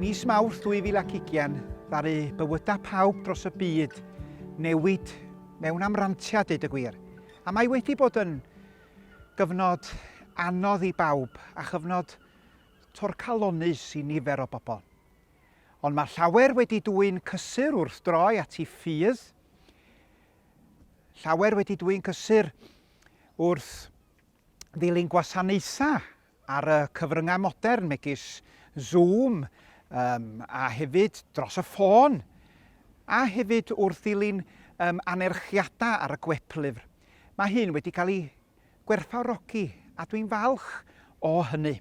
Mis Mawrth 2020 ddaru bywydau pawb dros y byd newid mewn amrantiad deud y gwir. A mae wedi bod yn gyfnod anodd i bawb a chyfnod torcalonnus i nifer o bobl. Ond mae llawer wedi dwy'n cysur wrth droi at ei ffydd, llawer wedi dwy'n cysur wrth ddilyn gwasanaethau ar y cyfryngau modern megis Zoom um, a hefyd dros y ffôn a hefyd wrth ddilyn um, anerchiadau ar y gweplyfr. Mae hyn wedi cael ei gwerthfawrogi a dwi'n falch o hynny.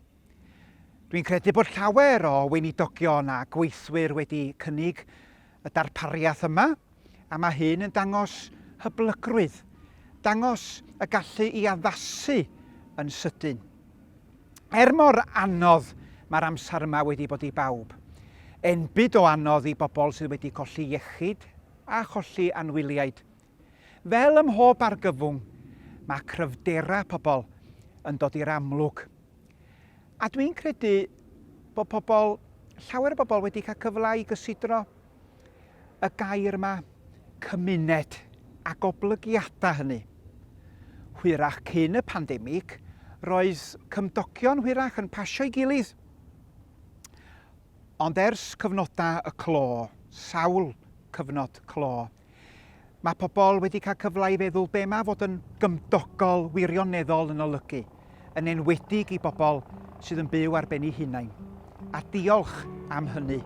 Dwi'n credu bod llawer o weinidogion a gweithwyr wedi cynnig y darpariaeth yma a mae hyn yn dangos hyblygrwydd, dangos y gallu i addasu yn sydyn. Er mor anodd mae'r amser yma wedi bod i bawb, enbyd o anodd i bobl sydd wedi colli iechyd a cholli anwyliaid. Fel ym mhob argyfwng, mae cryfderau pobl yn dod i'r amlwg. A dwi'n credu bod pobl, llawer o bobl wedi cael cyfle i gysidro y gair yma, cymuned, a goblygiadau hynny. Hwyrach cyn y pandemig, roedd cymdogion hwyrach yn pasio'i gilydd. Ond ers cyfnodau y clo, sawl cyfnod clo, Mae pobl wedi cael cyfle i feddwl be mae fod yn gymdogol wirioneddol yn olygu, yn enwedig i bobl sydd yn byw ar ben eu hunain. A diolch am hynny.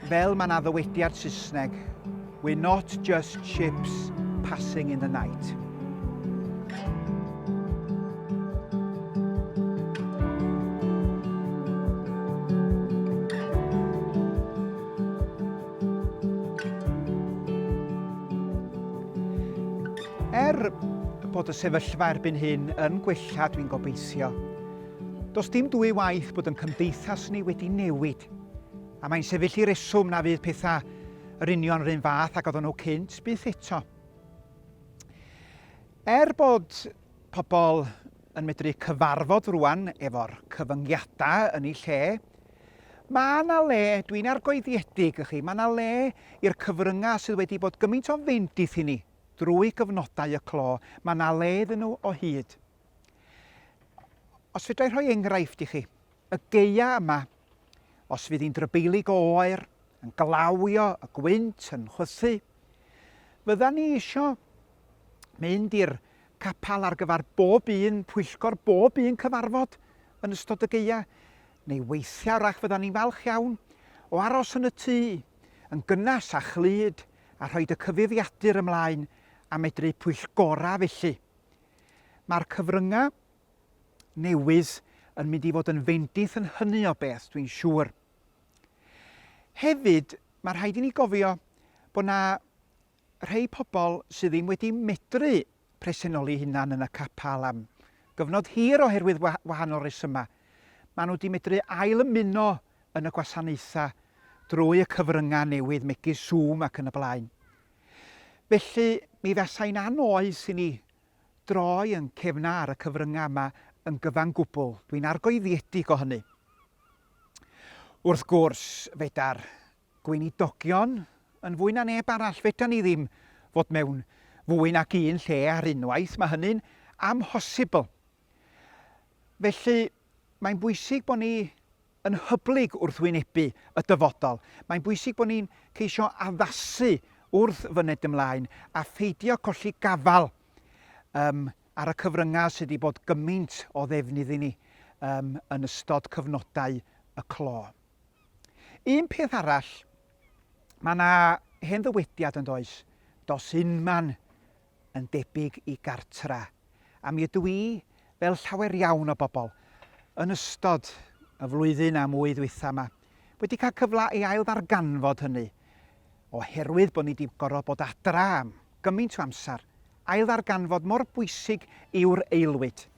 Fel mae na ddywediad Saesneg, we're not just ships passing in the night. Er bod y sefyllfa erbyn hyn yn gwella, dwi'n gobeithio. Does dim dwy waith bod yn cymdeithas ni wedi newid, a mae'n sefyll i reswm na fydd pethau yr union rhywun fath ac oedden nhw cynt byth eto. Er bod pobl yn medru cyfarfod rwan efo'r cyfyngiadau yn ei lle, Mae 'na le, dwi'n argoeddiedig i chi, mae 'na le i'r cyfryngau sydd wedi bod gymaint o fynd i thŷ ni drwy gyfnodau y clo, mae 'na le iddyn nhw o hyd. Os fedrai rhoi enghraifft i chi, y geia yma, os fydd hi'n drybeilig o oer, yn glawio, y gwynt yn chwythu, fydda ni eisiau mynd i'r capel ar gyfer bob un pwyllgor, bob un cyfarfod yn ystod y gaeau, neu weithiau rach fyddan ni'n falch iawn o aros yn y tŷ, yn gynnes a chlyd, a rhoed y cyfuddiadur ymlaen a medru pwyllgorau felly. Mae'r cyfryngau newydd yn mynd i fod yn fendith yn hynny o beth, dwi'n siŵr. Hefyd, mae rhaid i ni gofio bod yna Rhei pobl sydd ddim wedi medru presennoli hunan yn y capel am gyfnod hir oherwydd wahanol resymau, maen nhw wedi medru ail ymuno yn y gwasanaethau drwy y cyfryngau newydd megis Zoom ac yn y blaen. Felly mi fasai'n anoes i ni droi yn cefna ar y cyfryngau yma yn gyfan gwbl, dwi'n argoeddiedig o hynny. Wrth gwrs, fedar Gweinidogion, yn fwy na neb arall, fedran ni ddim fod mewn fwy nag un lle ar unwaith, mae hynny'n amhosibl. Felly, mae'n bwysig bod ni yn hyblyg wrth wynebu y dyfodol. Mae'n bwysig bod ni'n ceisio addasu wrth fyned ymlaen a pheidio colli gafael um, ar y cyfryngau sydd wedi bod gymaint o ddefnydd i ni um, yn ystod cyfnodau y clo. Un peth arall, mae yna hen ddywediad yn does, dos unman yn debyg i gartra, a mi ydw i, fel llawer iawn o bobl, yn ystod y flwyddyn a mwy ddwytha yma, wedi cael cyfle i ail ddarganfod hynny, oherwydd bod ni wedi gorfod bod adra am gymaint o amser, ail ddarganfod mor bwysig yw'r aelwyd.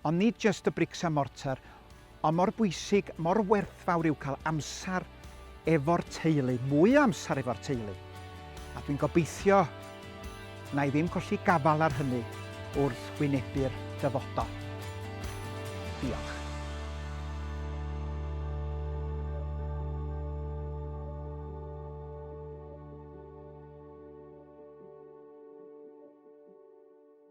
Ond nid jyst y brics a mortar, ond mor bwysig, mor werthfawr yw cael amser efo'r teulu, mwy o amser efo'r teulu. A dwi'n gobeithio na i ddim colli gafael ar hynny wrth wynebu'r dyfodol. Diolch.